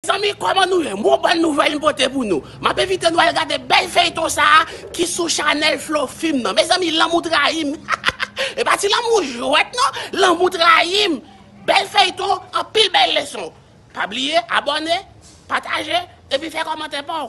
Zanmi koman nou ye m gon bon nouvel m pote pou nou map envite nou al gade bel feyton sa ki sou chanel flo film nan mezanmi lanmou trayim hahaha epa ti lanmou jwet non lanmou trayim bel feyton anpil bel leson pa bliye abone pataje epi fe komante paw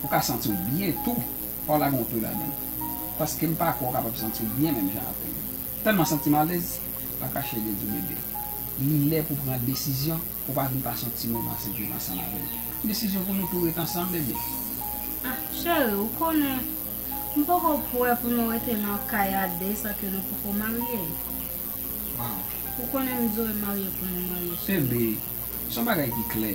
Ou ka santi w byen tou. Fò w lage yon tou ladan l. Paske m pa kwè w kapab santi w byen menm jan avè m. Tèlman santi m alèz, pa kache de di w bebe. Li lè pou w pran desizyon pou w pa vin pase yon ti moman sen viv ansanm avè m. Desizyon pou nou tou ret ansanm, bebe. Ah, cheri, ou konnen, m poko pwè pou nou rete nan kay a de san ke nou poko marye. Waw! Ou konnen m dwe marye pou nou marye, cheri. Bebe, s on bagay ki klè.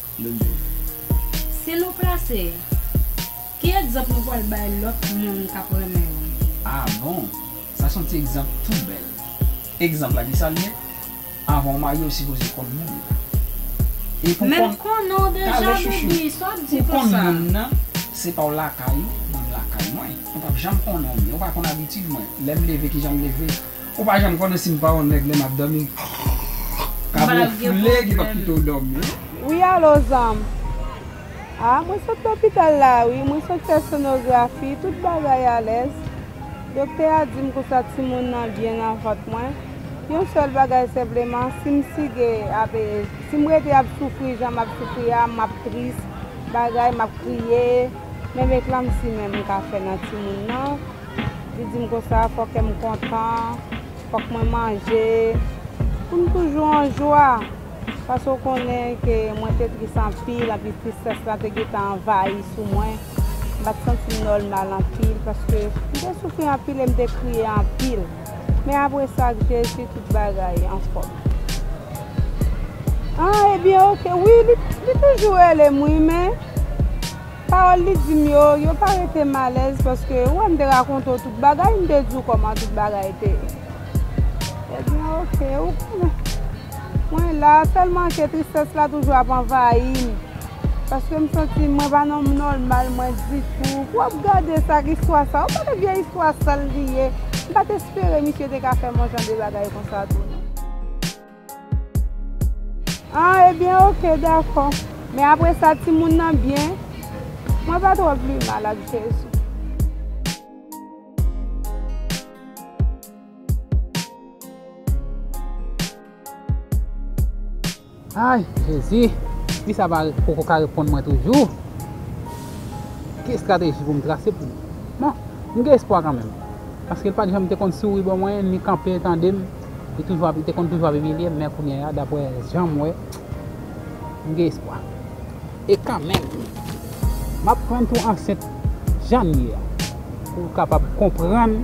Si nou plase, ki egzanp nou pral bay lòt moun k ap renmen yo? A bon! Sa son ti egzanp tou bèl. Egzanp la, ki sa l ye? Avan w marye, w sipoze konn moun nan. E pou w konn, talè chouchou, pou w konn moun nan, se pa w lakay ou, mwen m lakay mwen. Ou p ap janm konnen w byen. Ou pa konn abitid mwen. Lè m leve, ki jan m leve? Ou pa janm konnen sim pa yon nèg lè map domi. Kab yon foule ki pap kite w domi. Wi alo zanm. Ah mwen sot lopital la wi mwen sot fè sonografi tout bagay alèz. Doktè a dim kousa timoun nan byen nan vant mwen. Yon sèl bagay senpleman sim sige ap sim rete ap soufri jan map soufri a map tris bagay map kriye men men klamsi menm mka fè nan timoun nan. Li di m konsa, fò kè m kontan, fòk mwen manje, pou m toujou an jwa. Paske w konnen ke mwen te tris anpil, anpi tristès la te gen tan anvayi sou mwen. M pa t santi m nòmal anpil, paske m te soufri anpil e m te kriye anpil. Men apre sa, ak Jezi, tout bagay anfòm. An, ebyen, ok. Wi, li toujou rele m wi, men. Pawòl li di m yo, yo pa rete m alèz paske ou wè m te rakonte w tout bagay, m te di w kòman tout bagay te ye. Ebyen oke, ou konnen. Mwen la, sèlman ke tristès la toujou ap anvayi m. Paske m santi mwen pa nan nòmal mwen ditou. Pou w ap gade sa ak istwa sa, ou konnen vye istwa sal li ye. M pa t espere misye te ka fè m yon jan de bagay konsa tou non. Ah ebyen ok dakò men apre sa timoun nan byen mwen pa tro vle mal ak jezi. Ay jezi fi sa pa poko ka reponn mwen toujou ki estrateji pou m trase pou bon m gen espwa kanmenm paske l pat janm te konn souri ban mwen ni kanpe tande m. Li toujou ap li te konn toujou ap imilye m men kounye a daprè jan m wè m gen espwa. E kanmenm m ap prann tou ansent jan l ye a pou l kapab konprann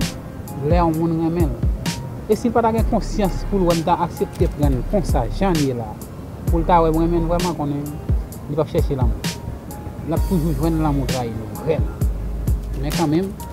lè yon moun renmen l. E si l pa ta gen konsyans pou l wè m ta aksepte pran l konsa jan l ye la pou l ta wè m renmen l vrèman konnen li p ap chèche lanmou. L ap toujou jwenn lanmou trayi l vrèman. Men kanmenm.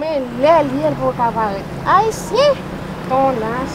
Men lè l ye l poko ka parèt. Ayisyen! Tonas!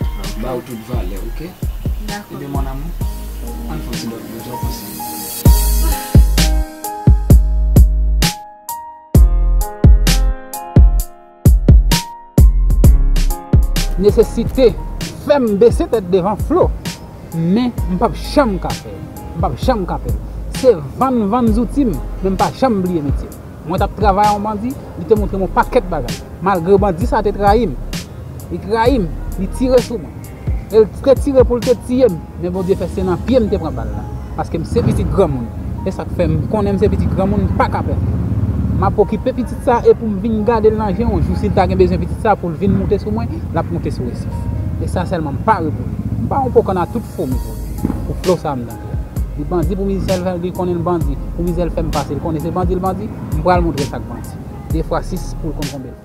Map baw tout valèw ok. Dako. Ebyen mon amour ann fon ti dòmi boo sa w panse. Nesesite fèm bese tèt devan Flo men mpap janm ka fèl. Mpap janm ka fèl. Se vann vann zoutim men mpa janm bliye metyem. Mwen t ap travay yon bandi, li te montre m yon pakèt bagay. Malgre bandi sa a te trayi m, li trayi m, li tire sou mwen. E l te tire pou l te tiye m, men Bondye fè se nan pye m te pran bal la. Paske m se pitit granmoun, e sa k fè m konnen m se pitit granmoun m pa ka pè. M ap okipe pitit sa a e pou m vin gade l nan je yon jou si l ta gen bezwen pitit sa a pou l vin moute sou mwen, l ap moute sou resif. E sa sèlman m pare pou li. M pa yon po kanna tout fo m ye pou li, pou flo sa a m nan. Li bandi pou mizisyen l li konnen l bandi. Pou mizè l fè m pase l konnen se bandi l bandi. M pral montre sa k bandi. De fwa sis pou l konn konbe l.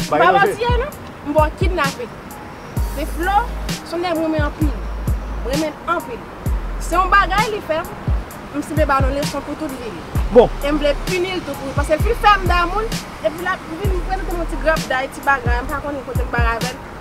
M pa mantye non, m ba w kidnape. Se Flo, son nèg m renmen anpil. M renmen l anpil. Se yon bagay li fè m, m sible ba l yon leson pou tout vi l. E m vle pini l tou pou l. Paske l fin fè m damou l, epi l ap vin m kwè l te yon ti grapday, ti bagay, m pa konnen kote l bare avè l.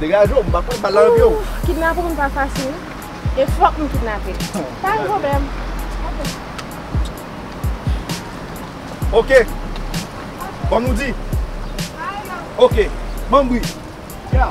Degaje w, m pa kwè bal la nan pye w. Ooh kidnape moun pa fasil e fòk m kidnape l. Pa gen pwoblèm. Ok. Kòm nou di. Ok. Banm bri. Ya.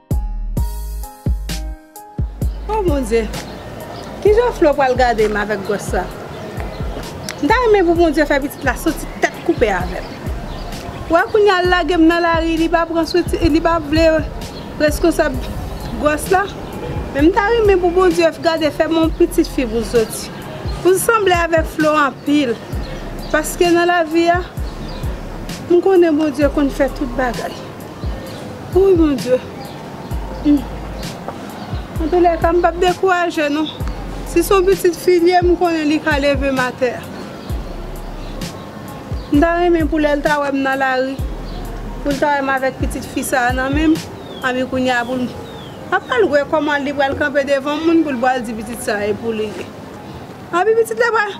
Oh mon Dieu! Kijan Flo pral gade m avèk gwòs sa? M ta renmen pou Bondye fè pitit la soti tèt koupe avè m. Ou wè kounye a l lage m nan lari li pa pran swen ti li pa vle reskonsab gwòs la. Men m ta renmen pou Bondye gade fè m yon pitit fi pou l soti. Pou l sanble avèk Flo anpil. Paske nan lavi a m konnen Bondye konn fè tout bagay. Wouy mon Dieu Humm Antoulèka m pap dekouraje non Si son pitit fi l ye m konnen li ka leve m atè M ta renmen pou lè l ta wè m nan lari Pou l ta wè m avèk pitit fi sa a nan men m Anpi kounye a pou l L ap pral wè kòman li pral kanpe devan moun pou l pral di pitit sa a e pou li l ye Anpi pitit la pral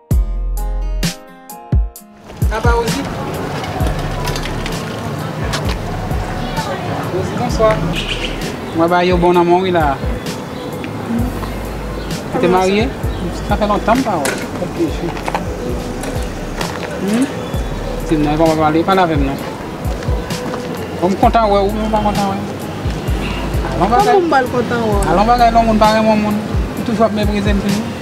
Apa Rosie? Rosie bonswa. Mwen ba yo bon nanmon wi la. Ou te marye? Sa fè lontan m pa wè. Kòm te chou. Hum? Ti m nan e pa wè pale, pale avè m non. Bon m kontan wè ou men ou pa kontan wè m. Alon bagay. Kòman m pa l kontan wè w? Alon bagay lè yon moun pa renmen yon moun, li toujou ap meprize m toujou.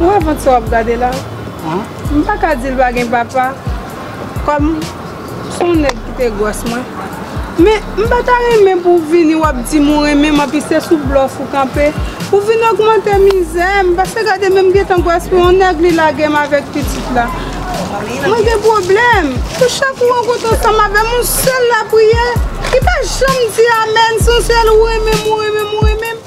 Ou wè vant sa wap gade la? M pa ka di l pa gen papa kòm s on nèg ki te gwòs mwen. Men m pa ta renmen pou w vini wap di m ou renmen m anpi se sou blòf ou kanpe. Ou vin ogmante mizè m paske gade menm gentan gwòs mwen on nèg li lage m avèk pitit la. Mwen gen pwoblèm pou chak ou rankontre ansanm avè m on sèl lapriyè ki pa janm di amèn se on sèl ou renmen m ou renmen m ou renmen m.